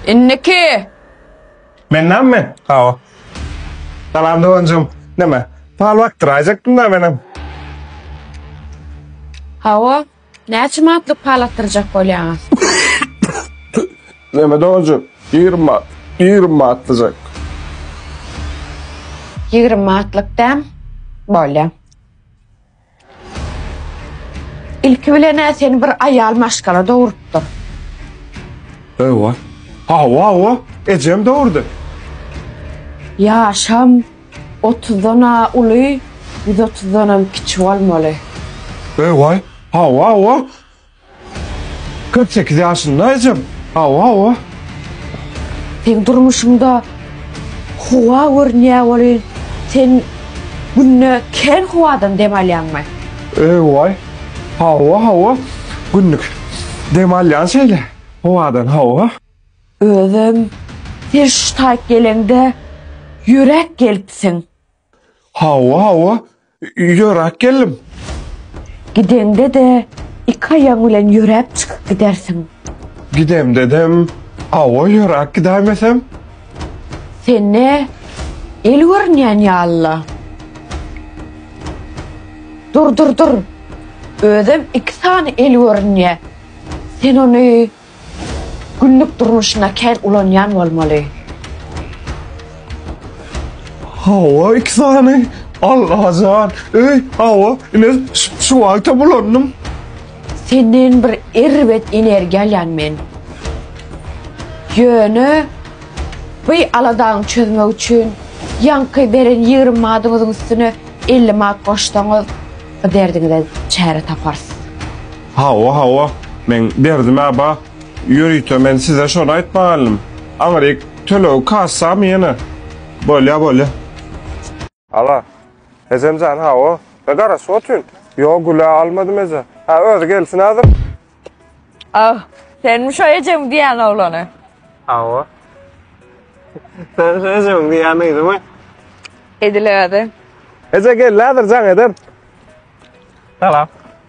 Indiki! Men näme men? Hawa. Salam doganjygym. Näme? Pal bakdyraýjakdym-da menem. Hawa. Näçe manatlyk pal atdyrjak bolýaňyz? Näme doganjygym? Ýigrimi manat. Ýigrimi manat atdyjak. Ýigrimi manatlyk däm? Bolýa. Ilki bilen-ä seni bir aýal maşgala dogurupdyr. Hawa, hawa-hawa, ejem dogurdy. Ýaşam otuzdan-a uly, ýüz otuzdanam kiçi bolmaly. Hawa, hawa-hawa. Kyrk sekiz ýaşyndaýjam. Hawa, hawa. Seň durmuşyňda howa görünýär welin, sen günde kän howadan dem alýaňmy? Eý-waý. Hawa, hawa. Günlük dem alýan şeýle howadan, hawa. Özem sen şu taýt geleňde ýöräp gelipsiň. Hawa, hawa, ýöräp geldim. Gideňde-de iki aýagyň bilen ýöräp çykyp gidersiň. Gidemde-dem, hawa, ýöräp gidäýmesem. Sende el görünýän ýaly-la. Dur, dur, dur. Özem iki sany el görünýä. Sen ony Günlük durmuşynda kän ulanýan bolmaly. Hawa iki sany. Allajan öý hawa ine şu wagtam ulandym. Senden bir erbet energiýa alýan men. Ýöne by aladaňy çözmek üçin ýaňky beren ýigrimi madyňyzyň üstüne elli mat goşsaňyz bu derdiňize çäre taparys. Hawa, hawa, meň derdimä ba, ýörite men size şony aýtmaga geldim. Aňryk tölegi kassamy ýene? Bolýa, bolýa. Ala, ejem jan, hawa, me garaşyp otyryn. Ýok, Gül-ä almadym eje. Hä, özi gelsin häzir. Oh, senmi şo ejeň diýýän oglany? Hawa. Sen şo ejeň diýýän gyzymy? Edil özi. Eje geldi häzir jaň eder. Salam.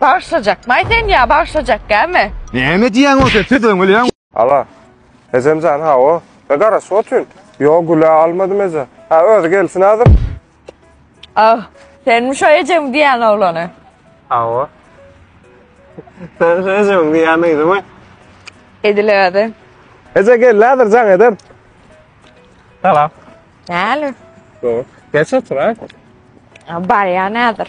Bagyşlajak maý sen ýa bagyşlajak gämi. Näme diýýäňow sen söz öňelýäň. Ala. Ejemjan hawa. Be garaşyp otyryn. Ýok gülä almadym eje. Hä özi gelsin häzir. Ah senmi şo ejeň diýýän oglany. Hawa. Sen şo ejeň diýýän gyzymy. Edil özi. Eje geldi häzir jaň eder. Salam. Näli. Geç otur ha. Barýan häzir.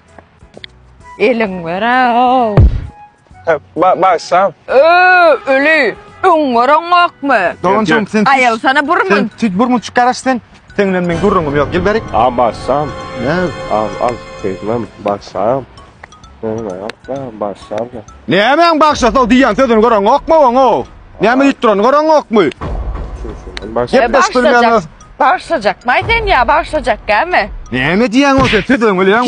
Elin berew. Ba bagşam. Öö, öli. Öň görüňokmy? Doganjygym sen. Aýal sana burmun. Tüt burmun çykaraş sen. Sen bilen men gürrüňim ýok. Gel berik. A bagşam. Ne? Al al. Beýtmem bagşam. Öňe ýapma bagşam. Nämäň bagşasy o diýýän sözüni görüňokmy oňa? Näme diýip durany görüňokmy? Gepleşip bilmeýäňiz. Bagşajakmaý sen ýa bagşajakgämi? Näme diýýäň o sen? Söz öňe